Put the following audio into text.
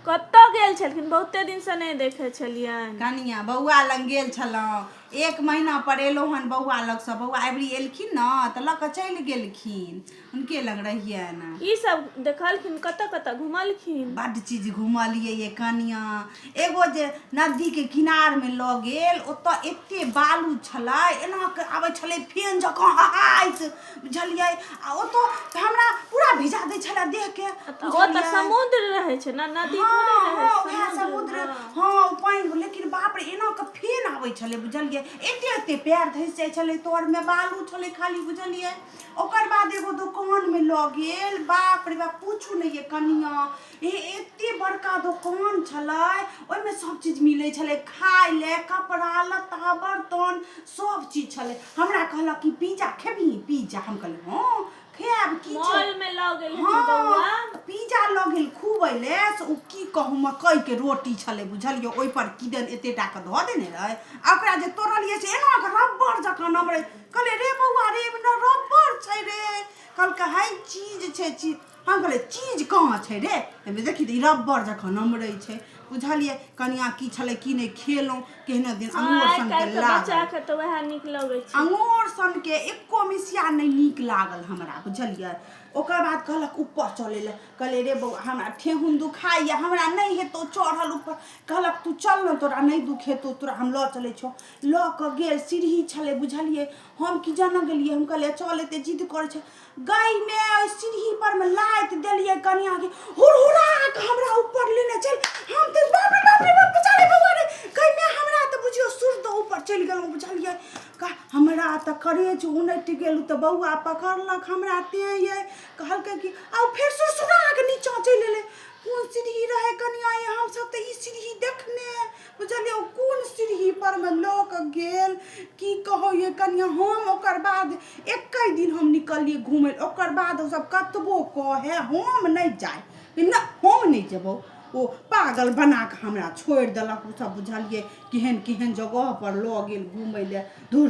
कतऽ गेल छलखिन बहुते दिन से नहि देखे छलियन कनिया बौआ लग गेल छलहुँ एक महीना पर एलहुँ हन बौआ लग से बौआ अबरी एलखिन न तऽ लऽ कऽ चलि गेलखिन हुनके लग रहियन ई सब देखलखिन कतऽ कतऽ घुमलखिन बड्ड चीज घुमलियै ये कनिया एगो जे नदी के किनार में लऽ गेल ओतऽ एते बालू छलै एना के आबै छलै फेन जकाँ हहाइत बुझलियै आ ओतो तऽ हमरा पूरा भिजा दै छलै देह के तऽ ओ तऽ समुद्र रहै छै ने नदी थोड़े रहै हँ छै उएह समुद्र हँ ओ पानि लेकिन बाप रे एना कऽ फेन आबै छलै बुझलियै एते एते पैर धसि जाइ छलै तर मे बालू छलै खाली बुझलियै ओकर बाद एगो दोकान मे लऽ गेल बाप रे बाप पूछू नहि ये कनिया हे एते बड़का दोकान छलै ओहिमे सब चीज मिलै छलै खाय ले कपड़ा लत्ता बर्तन सब चीज छलै हमरा कहलक कि पिज्जा खेबही पिज्जा हम कहलियै हँ खायब की छै मॉल में लऽ गेल हँ, हेथिन बौआ तऽ पिज्जा लऽ गेल खूब अयलै से ओ की कहू मकइके रोटी छलै बुझलियै ओहिपर किदन एतेटा कऽ धऽ देने रहै आ ओकरा जे तोड़लियै से एना कऽ रबड़ जकाँ नमरै कहलियै रे बौआ रे एहिमे ने रबड़ छै रे कहलकै है चीज छै चीज हम कहलियै चीज कहाँ छै रे एहिमे देखी तऽ ई रब्बर जखन नमरै छै बुझलियै कनिया की छलै की नहि खेलहुँ केहनो दिन अमोर सनके लागल तऽ वएह नीक लगै छै अमोर सनके एको मिसिया नहि नीक लागल हमरा बुझलियै ओकर बाद कहलक ऊपर चलै लए कहलियै रे बौआ हमरा ठेहुन दुखाइए हमरा नहि हेतौ चढ़ल ऊपर कहलक तू चल ने तोरा नहि दुख हेतौ तोरा हम लऽ चलै छौ लऽ कऽ गेल सीढ़ी छलै बुझलियै हम की जानऽ गेलियै हम कहलियै चल एते जिद करै छै गई में ओहि सीढ़ी पर में लाइत देलिए कनिया के हुरहुरा के हमरा ऊपर लेने चल हम ते बाप रे बाप रे बाप बेचारे बउआ रे गई में हमरा त बुझियो सुर त ऊपर चल गेल बुझलिए का हमरा त करेज उनट गेल त बउआ पकड़लक हमरा ते ये कहलकै कि आ फेर सुरसुरा के नीचा चल एले कोन सीढ़ी रहे कनिया ये हम सब त ई सीढ़ी देखने बुझलियै ओ कोन सीढ़ी पर में लऽ कऽ गेल की कहो ये कनिया हम ओकर बाद एक दिन हम निकलिए घूमे ओकर बाद सब कतबो कहे हम नहीं जाए ना हम नहीं जेबो ओ पागल बना के हमरा छोड़ दिलक ओ सब बुझलिए केहन केहन जगह पर लऽ गेल घूमे ले दूर